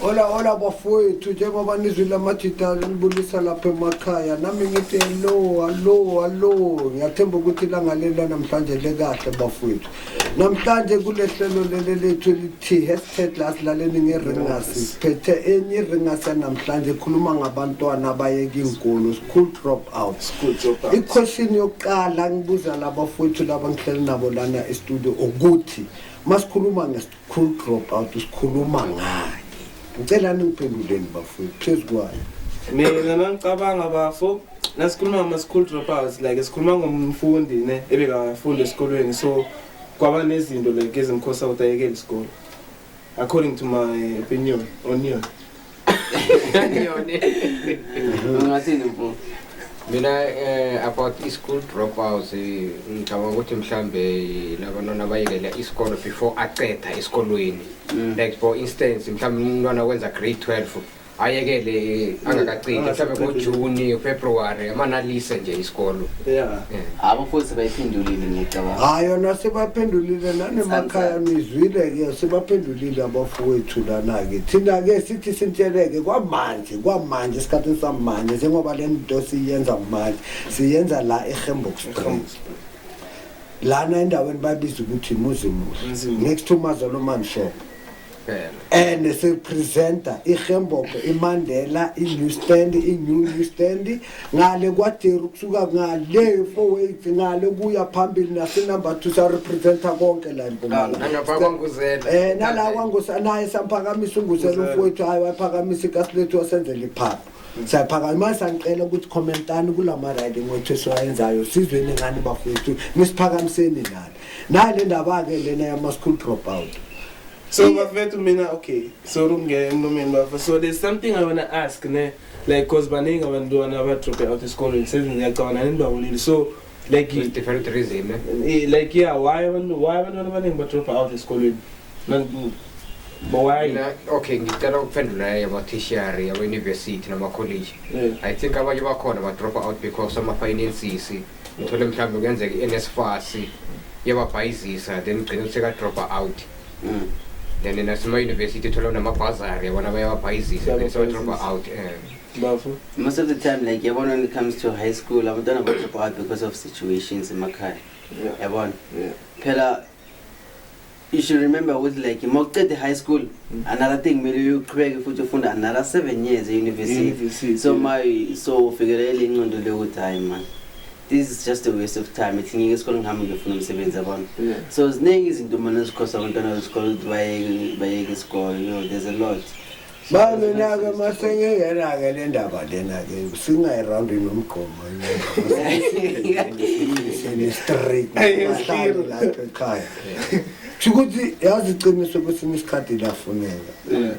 Hola hola bafowethu njengoba nizwile amajita libulisa lapha emakhaya nami ngithi hello hallo hallo ngiyathemba ukuthi ilangalela namhlanje lekahle bafowethu namhlanje kule hlelo leli lethu elithi hashtag lasilaleni ngeringasi siphethe enye iringasi yanamhlanje ekhuluma ngabantwana abayeka iinkolo school drop out ikhweshini yokuqala ngibuza laba fowethu laba ngihleli nabo lana estudio ukuthi masikhuluma ngesikolo Cool drop out sikhuluma ngani? Ngicela ningiphenduleni bafowethu phezu kwayo. Mina mangicabanga bafo nasikhuluma ngama school dropouts like sikhuluma ngomfundi ne ebekafunda esikolweni so kwaba nezinto like ezimkhosa ukuthi ayekele isikole according to my opinion on you. ungathini mfo mina eh about i-school dropouts eh, ngicabanga ukuthi mhlambe labantwana abayekela isikolo before aqeda esikolweni mm. like for instance mhlawumbe umntwana wenza grade 12 ayekele eh, angakacidi mhlawumbe ngojuni february amanalise nje isikolo eh. abo futhi bayiphendulile ngiyacabanga hayi yona sebaphendulile nanemakhaya nizwile-ke sebaphendulile Lile abafowethu lana-ke thina-ke sithi sintsheleke kwamanje kwamanje esikhathini samanje njengoba le nto siyenza manje siyenza la ehembox lana endaweni babiza ukuthi muzimuhle next to mazolo manshop and sipresenta ihembox imandela i-new stand i-new new stand ngale kwaderu kusuka ngale four weights ngale kuya phambili nasenumber two sarepresenta konke la empumalanaye nala kwangusanaye samphakamisa unguzela umfowethu hayi wayiphakamisa ikasilethu wasenzela iphapha siyaphakama manje sangicela ukuthi commentani kula ma-riding wethu esiwayenzayo sizweni ngani bafowethu nisiphakamiseni nalo nale ndaba-ke lena yama-school drop out so bafethu mina okay sorry ukungena emlomeni bafa so there's something i wanna ask ne like because baningi abantwana abadrope out esikoleni sengiyacabana nenibabulile so like With different reason eh? eh, like yeah why abantu why abantwana abaningi badrope out esikoleni Nani- but why Mina, okay ngicela ukuphendula yabathishiyari yabayunivesithi namakholeji Yeah. i think abanye bakhona badropa out because ama-finances ngithole mhlawumbe kuyenzeka i-nsfas yababhayizisa then gcine sekadropa out Mm. then nasemayunivesithi thola unamabhazari yabona bayawabhayizisa then sebadropa out um bafo most of the time like yabona when it comes to high school abantwana badrop out because of situations emakhaya Yeah. yabona Yeah. phela you should remember ukuthi like uma ucede high school Mm. another thing kumele uqhubeke futhi ufunde another seven years e-university University. so ma so ufikelele incondo leyokuthi hayi mani this is just a waste of time ithi ngike esikoleni ngihambe ngiyofuna umsebenzi yabona Yeah. so ziningi izinto mane ezikhosa abantwana besikole ukuthi bayeke bayeke isikole you know there's a lot So, Manje nake masengingena-ke le ndaba lena-ke singayirawundi nomgqomo sene-straight bahlale lapho ekhaya sho ukuthi yazi iqiniso kwesinye isikhathi lafuneka Yeah.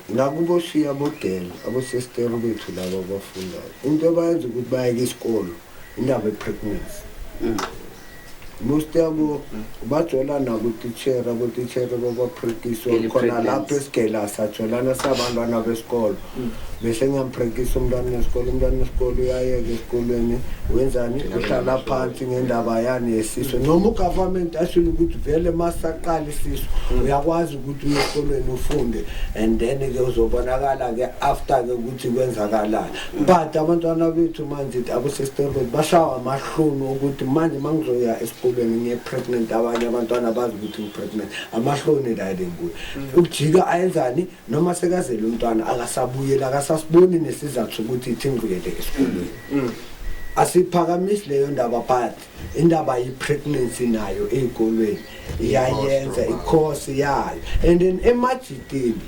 Nakubo shiya abodel abosester bethu laba abafundayo into abayenza ukuthi bayeke isikolo indaba epregnancy mm. most yabo bajola nabo titshera botitshera babaprekiswa khona lapho esigela sajolana sabantwana besikolo mm. bese ngiyamprekisa umntwana wesikolo umntwana wesikolo uyayeka esikolweni wenzani uhlala phansi ngendaba yani yesiso noma ugovernment ashile ukuthi vele masaqala isiso mm. uyakwazi ukuthi uye esikolweni ufunde and then ke uzobonakala ke after ke ukuthi kwenzakalani but abantwana bethu manje abosesitebeni bashawa amahlunu ukuthi manje uma ngizoya esikolweni ngiye-pregnant abanye abantwana bazi ukuthi ngi-pregnant amahloni lale nguye ukujika ayenzani noma sekazele umntwana akasabuyeli akasasiboni nesizathu sokuthi ithi ngibuyele esikolweni mm. asiphakamisi leyo ndaba but indaba ye-pregnancy nayo ey'kolweni iyayenza ikhosi yayo and then emajitini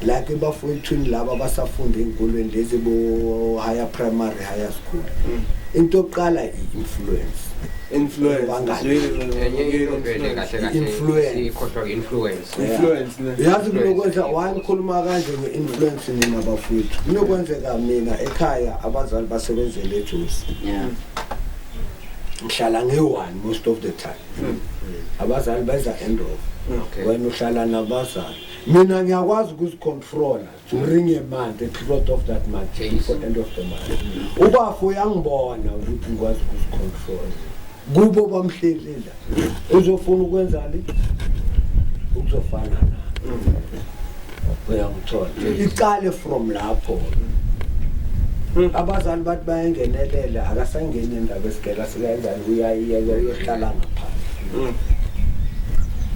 like ebafowethwini laba abasafunda ey'nkolweni lezi bo-higher primary higher school mm. into yokuqala i-influence influence influence ne yazi kunokwenza why ngikhuluma kanje nge-influence nina bafowethu kunokwenzeka mina ekhaya abazali basebenzele ejosi Yeah. ngihlala ngiyi-one most of the time abazali beza end of Okay. wena uhlala nabazali mina ngiyakwazi ukuzicontrola during a month, a period of that month, Jeez. before end of the month. Ubafo uyangibona ukuthi ngikwazi ukuzicontrol. Kubo bamhlelela. Uzofuna ukwenzani? Ukuzofana na. Uyangithola. Iqale from lapho. Abazali bathi bayengenelela akasangeni indaba esigela sikayenzani uyayiyeka uyohlala ngaphandle.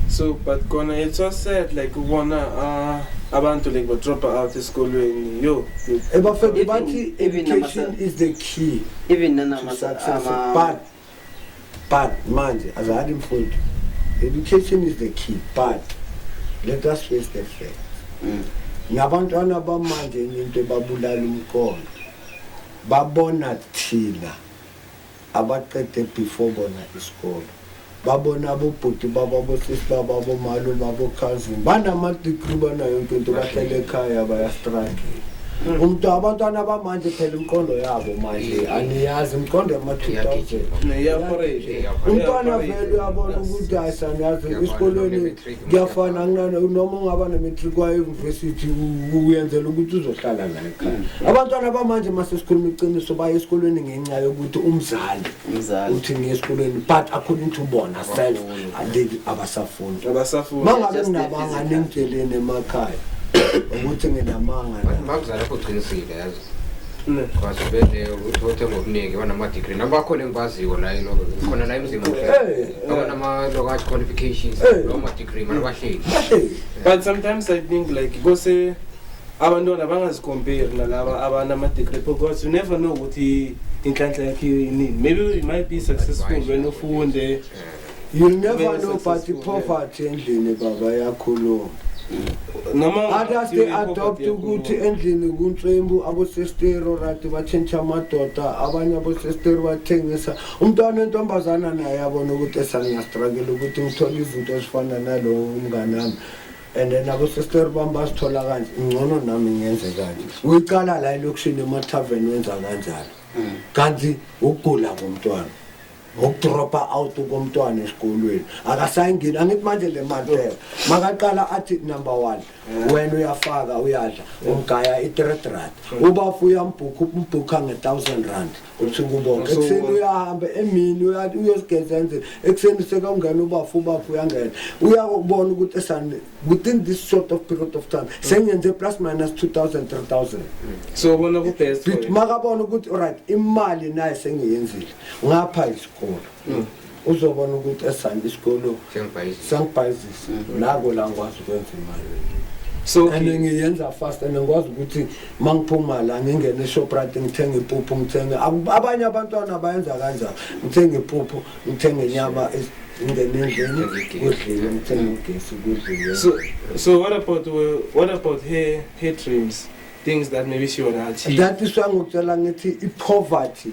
So but kona it's so sad like ubona uh abantu like badropa out esikolweni yo ebafebe bathi education is the key even nanamabut but manje azali imfundo education is the key but let us face the fact mm. nabantwana bamanje into ebabulala umqondo babona thina abaqede before bona isikolo babona abobhuti babo abosisi babo abomalume abokhazini banama-degree banayo yonke into bahlele ekhaya bayastruggle umntu abantwana abamanje phela imiqondo yabo manje aniyazi imiqondo yama-two thousand umntwana vele uyabona ukuthi ayisaniyazi esikolweni kuyafana kunana noma ungaba ne-matric wayeyunivesithi uyenzela ukuthi uzohlala la ekhaya mm. abantwana bamanje uma sesikhuluma iqiniso baye esikolweni ngenxa yokuthi umzali uthi ngiye esikolweni but according to bona self aleli abasafuni uma ngabe kunabangane engitsheleni emakhaya ukuthi nginamanga Kwazibele uthothe ngobuningi banama-degree nabo bakhona engibaziyo la ino khona la emzini muhle abanama-lokat qualifications lawo ma-degree mana bahleli but sometimes i think like kose abantwana bangazikomperi nalaba abanama-degree because you never know ukuthi inhlanhla yakhe yinini maybe you might be successful when ufunde You never know but poverty endlini baba yakhuluma. Others they adopt ukuthi endlini kuntswembu abosestero right batshintsha amadoda abanye abosestero bathengisa umntwana wentombazana naye abona ukuthi esangiyastruggle ukuthi ngithole izinto ezifana nalowo umngane wami and then abosestero bami basithola kanje ngcono nami ngenze kanje uyiqala la elokishini emathaveni wenza kanjalo mm. kanti ukugula komntwana ngokudropa out komntwana esikolweni akasayingeni angithi manje le mantela makaqala athi number one wena uyafaka uyadla umgaya i-three rand ubafu uyambhukha umbhukha nge-thousand rand usuku bonke ekuseni uyahamba emini uyosigeza endlini ekuseni sekawungena ubafu ubafu uyangena uyakubona ukuthi esani within this sort of period of time sengenze plus minus 2000 3000 so bona ku-best makabona ukuthi right imali naye sengiyenzile ngapha isikolo mm. uzobona ukuthi esami isikolo sengibhayizisa mm. nako la ngikwazi ukwenza imali so and ngiyenza fast and ngikwazi ukuthi uma ngiphuma la ngingene eshoprite ngithenge ipuphu ngithenge abanye abantwana bayenza kanjalo ngithenge ipuphu ngithenge inyama ngingene endlini kudliwe ngithenge ugesi kudliwe so so what about what about her her dreams things that maybe she wanna achieve that is why ngikutshela ngithi i-poverty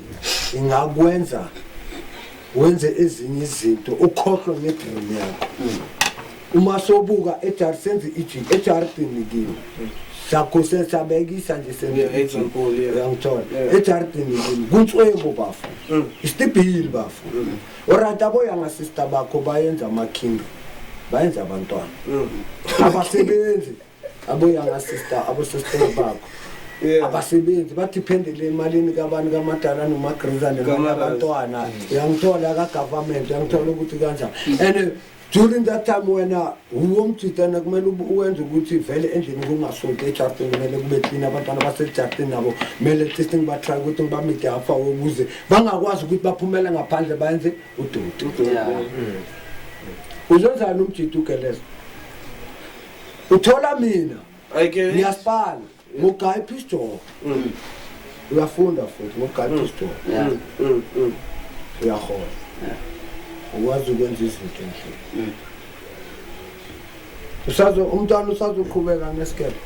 ingakwenza wenze ezinye izinto ukhohlwe ngedream yakho mm. uma sobuka ejar senze ijini ejaridini kimi sakho sesabekisa nje sengiyangithola ejaridini kimi kuntswebo bafo mm. isitibhili bafo mm. orit abo yangasista bakho bayenza amakhingi bayenza abantwana abasebenzi aboyanga sister abosostele bakho Yeah. abasebenzi badiphendele emalini kabantu kamadala nomagriza nemali Kamadala. abantwana uyangithola kagovernment uyangithola ukuthi kanjani and during that time wena uwomjidana kumele ube- uwenze ukuthi vele endlini kungasonti ejardini kumele kube clean abantwana basejardini nabo kumele at least ngibatry ukuthi ngibamide afa ukuze bangakwazi ukuthi baphumele ngaphandle bayenze udoti Yeah. uzenzani umjidi ugelezo uthola mina ngiyasipala ngugaya ipistol mm. uyafunda futhi ngugaya mm. ipistol mm, uyahola ukwazi ukwenza izinto endlini usazo umntwana usazoqhubeka ngesikebhe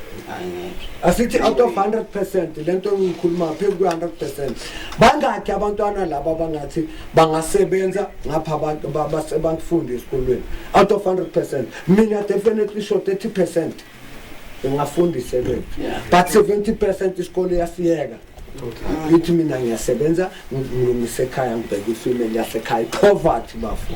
asithi out of 100 percent le nto engiyikhuluma phezu kwe-100 percent bangakhi abantwana laba bangathi bangasebenza ngapha abantu basebangifunda esikolweni out of 100 percent mina definitely sho 30 percent ungafunda isebenzi but 70 percent isikole yasiyeka ngithi mina ngiyasebenza ngilungise ekhaya ngibheke ifimeli yasekhaya ipoverty bafo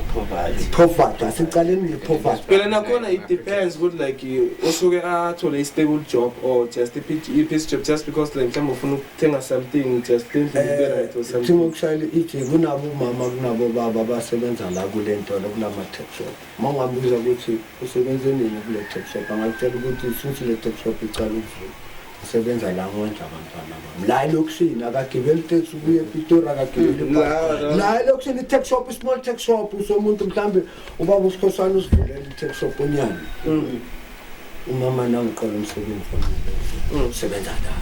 poverty asicaleni ngepoverty phela nakhona it depends ukuthi like usuke athole i-stable job or just i-piece job just because like mhlawumbe ufuna ukuthenga something just lendliberayithi eh, something ukushayela iji kunabo umama kunabo baba abasebenza la kule ntolo kulama-tax shop Uma ungabuza ukuthi usebenze nini kule top shop angakutshela ukuthi since le top shop iqala ukuvula ngisebenza la ngondla abantwana bami la elokishini akagibeli taxi ubuye epitori akagibeli mm, ibhasi. la elokishini i-tax shop i-small tax shop usomuntu mhlawumbe ubaba usikhosana usivulela i-tax shop onyana Mm. umama nangiqola umsebenzi Mm. osebenza la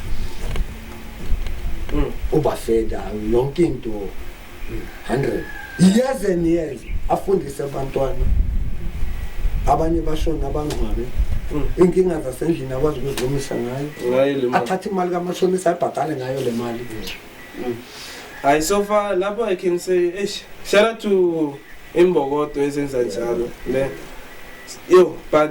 Mm. ubafeda yonke into 100 years and years afundise abantwana abanye bashona abangcwabe mm. inkinga zasendlini akwazi ukuzilungisa ngayo athathe imali kamashonisa ayibhadale ngayo le mali mm. hayi so far lapho i can say eish shout out to imbokodo ezenza njalo le yo but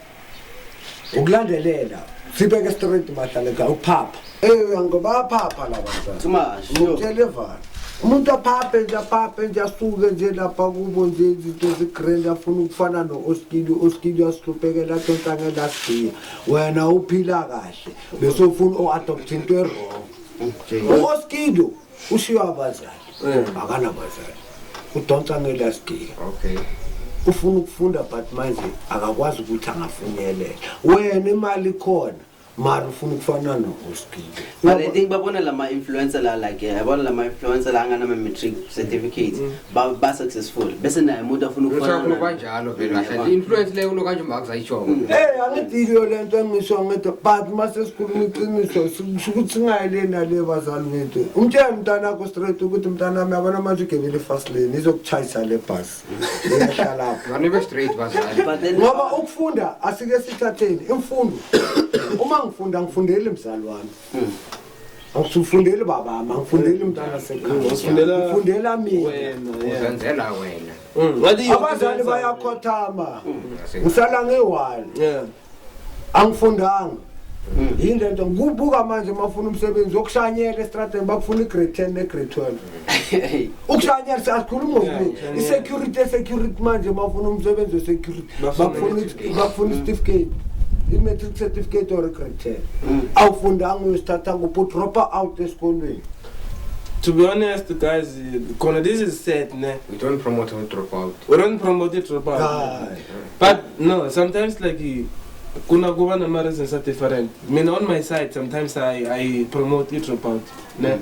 ukulandelela sibeke straight bahlale ka uphapha eya ngoba aphapha la bantwanautelevana umuntu aphaphe nje aphaphe nje asuke nje lapha kubo nje izinto zigrand afuna ukufana no-oskili u-oskili uyasihluphekela athonsangelasiya wena uphila kahle besofuna o-adopthe into erong u-oskili ushiywa abazali mm. akanabazali udonsa ngelast year okay ufuna ukufunda but manje akakwazi ukuthi angafinyelela wena imali khona mara ufuna ukufana nohospital but i think babona lama influencer la like eh, yabona lama influencer la anganama matric certificate mm. ba ba successful bese naye umuntu afuna ukufana Uthakho naye. kanjalo vele kahle. Influence leyo kulo kanje uma kuzayishoko. Mm. Hey angidiyo lento engisho ngedwa but mase sikhuluma iqiniso sikusho ukuthi singayile nale bazali bethu. Umtshela umntana wakho straight ukuthi umntana wami yabona manje ugebele fast lane izokuchayisa le bus. Iyahlala lapho. Ngane be straight bazali. But then Ngoba ukufunda asike sithatheni imfundo. Uma ngifunda ngifundele mzali wami. Awusufundeli baba, angifundeli mntana sekhaya. Ngifundela ngifundela mina. Uzenzela wena. Mm, Ngathi iyo- Abazali bayakhothama. Ngisala ngiwali. Yeah. Angifundanga. Yini lento kubuka manje mafuna umsebenzi wokushanyela estradeni bakufuna igrade 10 negrade 12. ukushanyarisa asikhulumi ngokuningi i-security e-security manje mafuna umsebenzi we-security bakufuna isitifiketi i-matric certificate or grade mm. awufundanga uyosithatha kuphi udropa out esikolweni to be honest guys khona this is sad ne we don't promote we drop out we don't promote it drop out ah. but no sometimes like kuna kuva na ma-reasons a different mina on my side sometimes i, I promote i drop out ne mm.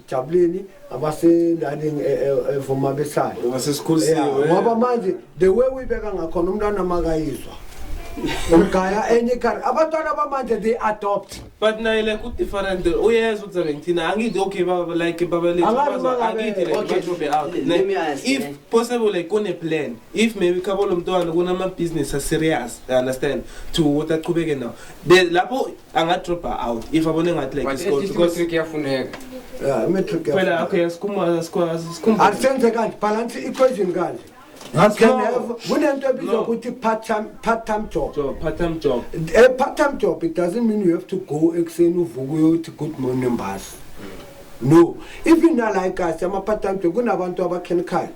jabuleni abasendaweni e, e, evuma besayo ngoba manje the way uyibeka ngakhona umntwana makayizwa umgaya enye ikhari abantwana bamanje they adopt but naye like udifferent uyezwa ukuthi abe ngithina angithi okay baba like baba lethuangithi likeobe out if possible like kune-plan if maybe khabo lo mntwana kunama-business aserious understand to ukuthi achubeke nawo lapho anga drop out if abone ngathi like isikole because matric yafuneka yeah matric phela okay sikhumula sikwazi sikhumula asenze kanti balance equation kanti kunento ebizwa ukuthi part-time job part-time job a part-time job it doesn't mean you have to go ekuseni uvuka uyothi good morning mbasi no even like us ama-part-time job kunabantu abakhenikhaya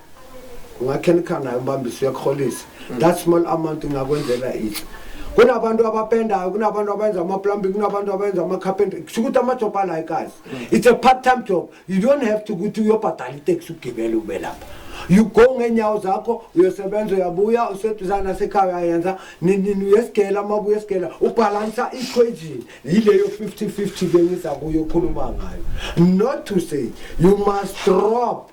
ungakhenikha nayo umbambisi uyakurholisa mm. that small amount ingakwenzela ihle kunabantu abapendayo kunabantu abenza amaplumbing kunabantu abenza amacarpenter kusho ukuthi amajob alayo kazi mm. it's a part time job you don't have to ukuthi uyobhadala iteksi ugibele ube lapha you go ngeenyawo zakho uyosebenza uyabuya useduzana nasekhaya uyayenza ninini uyesigela uma buya esigela ubhalansa equation yileyo 50 50 bengiza kuyo okhuluma ngayo not to say you must drop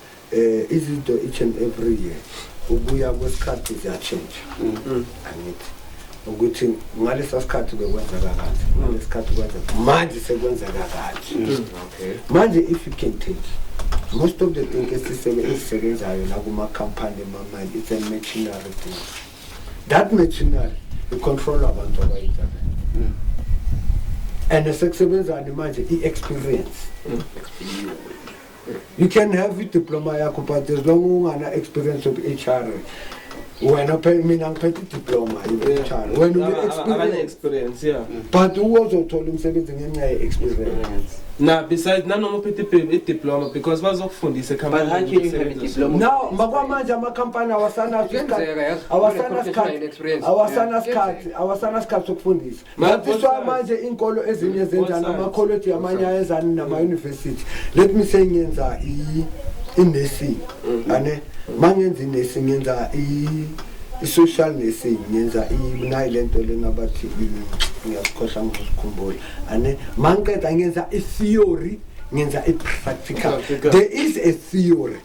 Eh izinto each and every year ukuya kwesikhathi ziyatshintsha. Mhm. Angithi ukuthi ngalesa sikhathi bekwenzeka kanje ngesikhathi kwenzeka manje sekwenzeka kanje mm. okay manje if you can take most of the thing esisebe esisebenzayo la kuma company mama it's a machinery thing that machinery i control abantu abayithatha mm. and sekusebenzani manje i experience mm. You can have i-diploma yakho but as long ungana experience of HR wena phela mina ngiphethe i-diploma ye-HR wena une-experience experience yeah but uwozothola umsebenzi ngenxa ye-experience na besides nanoma uphethe i- i-diploma because bazokufundisa But how can you have a ekhampanini diploma? now makwamanje amakhampani awasanaso Kuyenzeka, isikhathi- yes. awasana Kune-professional sikhathi- experience. awasana Yeah. sikhathi awasana sikhathi sokufundisa Ngaphiswa manje inkolo ezinye zenza namakholeji amanye ayezani nama-university let me say ngenza i-nursing mm-hmm. ane mangenza i-nursing ngenza i-social nursing ngenza nayi le nto lena bathi ngiyazikhohla ngizikhumbula ane mangiqeda ngenza i-theory ngenza i-practical there is a theory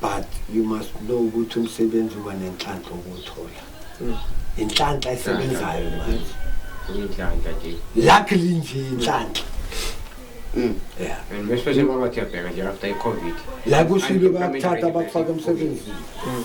but you must know ukuthi umsebenzi uba nenhlanhla ukuwuthola hmm. inhlanhla esebenzayo manje inhlanhla nje luckily nje inhlanhla hmm. Yeah. And especially kwaba kuyabheka nje after i-covid la kushilo bayakuthatha bakufaka emsebenzini hmm.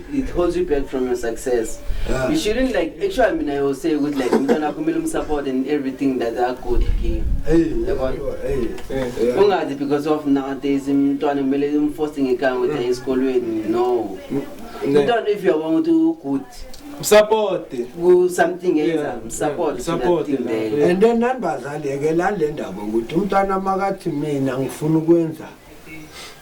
it holds you back from your success yeah. you shouldn't like actually mina you say ukuthi like umntwana wakho kumele umsupport and everything that are good here ungathi because of nowadays umntwana kumele umforce ngekanga ukuthi aye esikolweni no umntwana if uyabona ukuthi ugood support ku something yenza support support and then nambazali yeke la le ndaba ukuthi umntwana makathi mina ngifuna ukwenza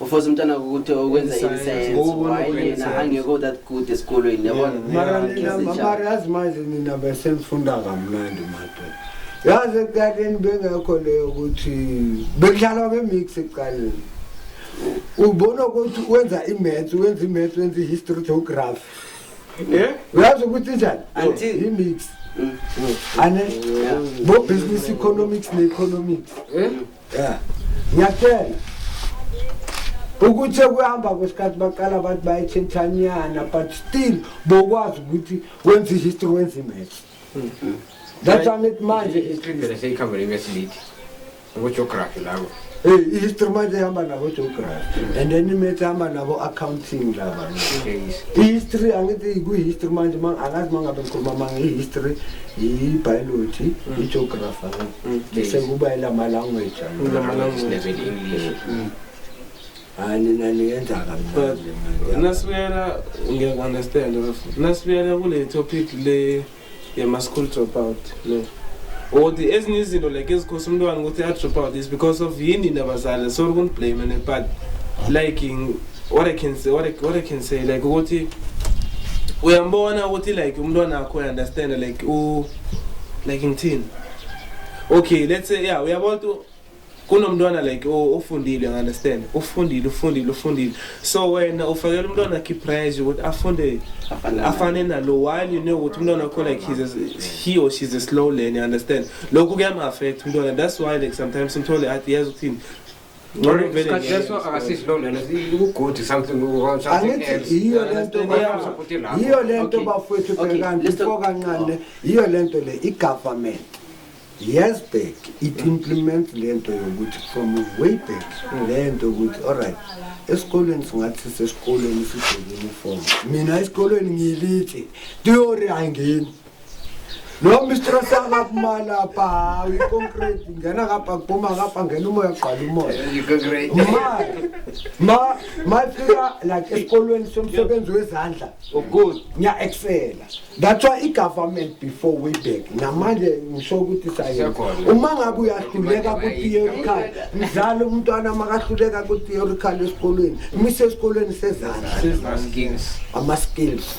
ufosa umntana ukuthi ukwenza isayensi why yena angekho that good esikolweni yabonamarazi manje nina besenifunda kamnandi madoda yazi ekuqaleni bengekho leyo ukuthi bekudlalwa nge-mix ekuqaleni ubona ukuthi wenza imaths wenza imaths wenza i-history geography eh? uyazi ukuthi njani i-mix mm. ane bo-business economics ne-economics eh? ya ngiyakutshela ukuthi sekuhamba kwesikhathi baqala abantu bayetshintshanyana but still bokwazi ukuthi wenza ihistory wenza imatch that's why ngithi manje i-history phela seyikhamba nemesilithi ngogeography labo Hey, ihistory manje ihamba nabo geography and then imatch ihamba nabo accounting laba ihistory angithi kuyihistory manje ma- angazi mangabe ngikhuluma manga ihistory ibiology igeography angithi bese kuba elama language elama language level english mm. hayi nina niyenza kamnandi nasibuyela ngiyakunderstand bafo nasibuyela kule topic le yama school drop out no or the ezinye izinto like ezikhosa umntwana ukuthi a-drop out is because of yini nabazali sorry kundiblame and but like what i can say what i, what I can say like ukuthi uyambona ukuthi like umntwana akho uyaunderstand like u uh, like ngithini okay let's say yeah uyabona kunomntwana like ofundile understand ufundile ufundile ufundile so wena ufakela umntwana key pressure ukuthi afunde afane nalo while you know ukuthi umntwana wakho like he's a, he or she's a slow learner understand lokhu kuyam affect umntwana that's why like sometimes umthole athi yazi ukuthini leso akasisi lo lena ukugodi something angithi yiyo lento yiyo lento bafowethu bhekani before kancane yiyo lento le i-government years back it implements le nto yokuthi from way back le nto yokuthi allright esikolweni singathi sesikolweni sibheke uniform mina esikolweni ngiyilithe theory ayingeni Lo Mr Sanga kumala pa hayi concrete ngena ngapha kuphuma ngapha ngena umoya gqala umoya. Ma ma ma fika like esikolweni somsebenzi wezandla. Oh good. Nya excela. That's why igovernment before we back namanje ngisho ukuthi sayenza. Uma ngabe uyahluleka ku theoretical mdlalo umntwana makahluleka ku theoretical esikolweni mise esikolweni sezandla. Ama skills.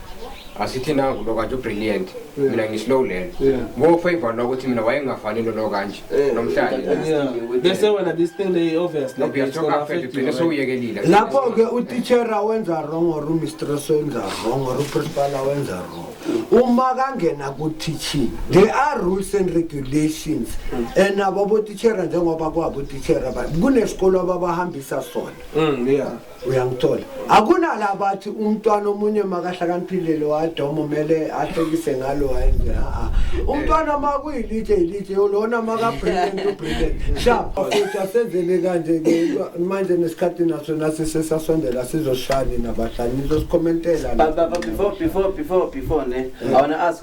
asithi nangu lo kanje ubrilliant mina ngislow lena ngofavor lo ukuthi mina wayengafani lolo kanje eh, nomhlalebese eh, wena this thing lay obvious sewuyekelile lapho-ke utitshera wenza wrong or umistress wenza wrong or uprincipala wenza wrong uma kangena ku-teaching they are rules and regulations and ababotitshera njengoba kwabotitshera kunesikolo ababahambisa sona mm, uyangithola akunala abathi umntwana omunye makahlakaniphile lo adoma umele ahlekise ngalo hayi a umntwana makuyilitshe ilitshe lona makabrilliant ubrilliant sha futhi asenzele kanje ke manje nesikhathi naso nasi sesasondela sizoshani nabahlali nizosikomentela before before before before ne i want to ask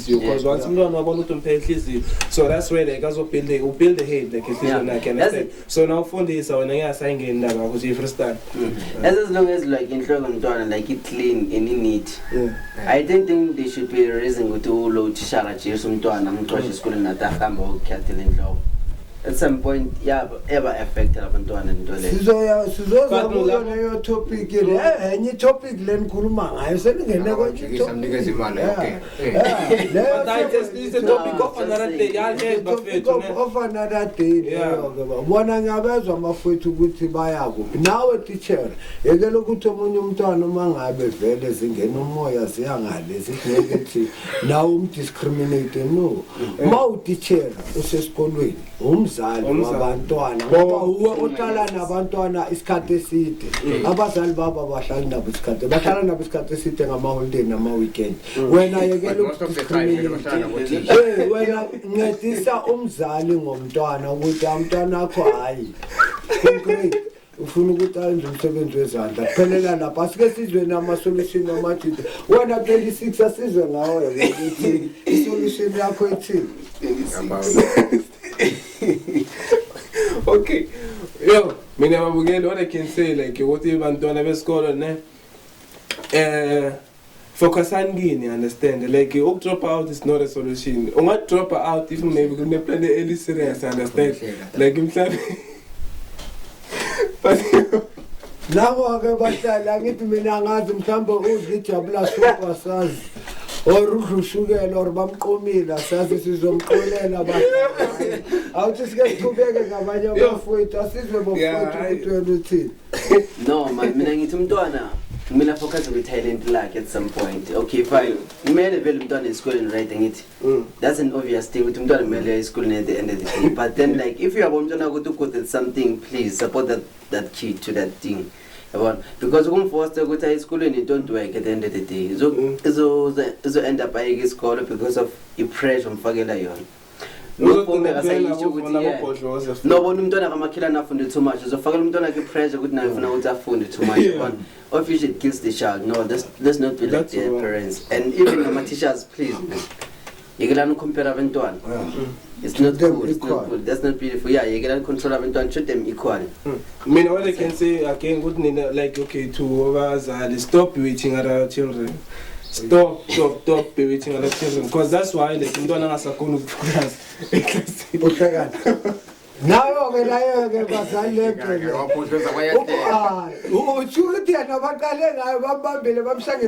inhliziyo because once umntwana wabona ukuthi umphe inhliziyo so that's where like azobuilde ubuilde hate like inhliziyo lakhe understand so na ufundisa wena ngeke asayingeni ndaba ukuthi ifreestyle mm. as long as like inhloko mntwana like it clean and in neat i don't think they should be raising ukuthi ulo utishara jesu umntwana amxoshe mm. esikoleni nathi ahamba okukhathela inhloko at some point yaba ever affected abantwana into leyo sizoya sizoza kuyo leyo topic le enye topic lenikhuluma ngayo seningene kwenye topic But I just it's a topic of another day. Y'all heard bafethu ne. of another day Yeah. leyo ke ba- bona ngiyabezwa amafwethu ukuthi baya kuphi nawe teacher yekela ukuthi omunye umntwana uma ngabe vele zingena umoya ziya ngale zithi ngeke thi nawe umdiscriminate no uma utitshera usesikolweni umzali wabantwana ngoba uwe uhlala nabantwana isikhathi eside mm. abazali babo abahlali nabo isikhathi bahlala nabo isikhathi eside ngamaholiday nama-weekend mm. wena yekela eh, wena ncedisa umzali ngomntwana ukuthi amntwana akho hhayi ufuna ukuthi ayenze umsebenzi wezandla kuphelela lapho asike sizweni amasolution amajida wena 26 asizwe ngawo ukuthi isolution yakho ethini okay yo mina babukeli what i can say like ukuthi bantwana besikolo ne eh Focusani kini understand like uk drop out is not a solution. Unga drop out if maybe kune plan eli serious understand like mhlawumbe But Labo ke bahlala angithi mina angazi mhlawumbe udla ijabula suka sazi. Or udla ushukela or bamqomile asazi sizomxolela bahlala. Awuthi sike siqhubeke ngabanye abafowethu asizwe bofowethu ukuthi wena uthini. no man mina ngithi umntwana kumele afocus kwi-talent lakhe at some point okay fine kumele vele umntwana esikoleni right ngithi mm. that's an obvious thing ukuthi umntwana kumele esikoleni at the end of the day but then like if you have umntwana ukuthi ugood at something please support that, that kid to that thing yabona because ukumfosta ukuthi aye esikolweni it don't work at the end of the day izo-end mm. up ayeke isikolo because of i-pressure omfakela yona nobona umntwana kamakhelane afunde too much uzofakela umntwana khe pressure ukuthi naye ufuna ukuthi afunde too much yabona of you should kiss the child no let's, let's not be like their parents and even nama-teachers please yekelani ukhompera abentwana it's not good it's not good that's not beautiful yeah yekelani control abentwana treat them equally mm. mina what i can say again ukuthi nina like okay to abazali stop bewitting at our children stop stop stop bewitting at our children because that's why like umntwana angasakhona ukuphulaza eklasini uhlekana nayo-ke nayo-ke bazali lebhele utsho ukuthi yena baqale ngayo bambambile bamshange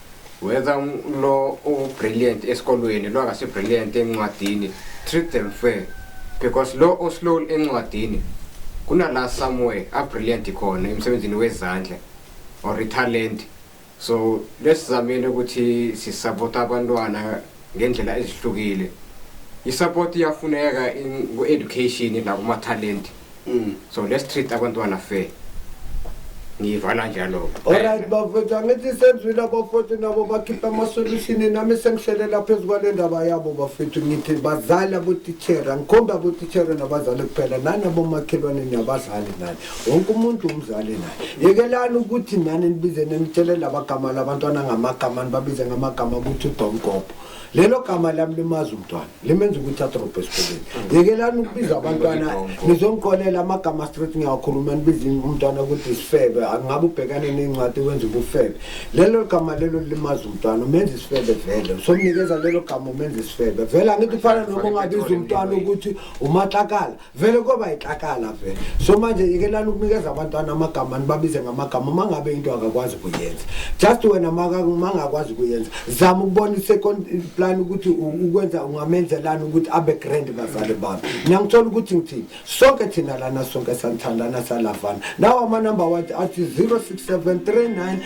whether lo ubrilliant esikolweni lo akasi brilliant encwadini treat them fair because lo oslow encwadini kunala somewhere a brilliant khona emsebenzini wezandla or talent so lesizamile ukuthi sisupport abantwana ngendlela ezihlukile isupport iyafuneka ku education la kuma talent Mm. So let's treat abantwana fair. Ngiyivala njalo. Alright bafethu angithi senzwile abafethu nabo bakhipha ama solution nami sengihlelela phezu kwale ndaba yabo bafethu ngithi bazali abotitshera ngikhomba abotitshera nabazali kuphela nani abomakhelwane niyabazali nani wonke umuntu umzali naye yekelani ukuthi nani nibize nenitshele labagama labantwana ngamagama nibabize ngamagama ukuthi udomgobho lelo gama lami limazi umntwana limenza ukuthi adrobhe esikoleni yekelani ukubiza abantwana nizongiqolela amagama street ngiyawakhuluma nibiza umntwana ukuthi isifebe angabe ubhekane ney'ncwadi wenza ubufebe lelo gama lelo limaza umntwana umenza isifebe vele somnikeza lelo gama umenza isifebe vele angithi kufana noma ungabiza umntwana ukuthi umatlakala vele kwaba yixakala vele so manje yekelani ukunikeza abantwana amagama nibabize ngamagama uma ngabe into akakwazi ukuyenza just wena mangakwazi ukuyenza zama ukubona i-second plan ukuthi ukwenza ungamenzelani ukuthi abe grand bazali bami niyangithola ukuthi ngithini sonke thina lana sonke sanithandana salavana nawo amanumber wathi athi 067 39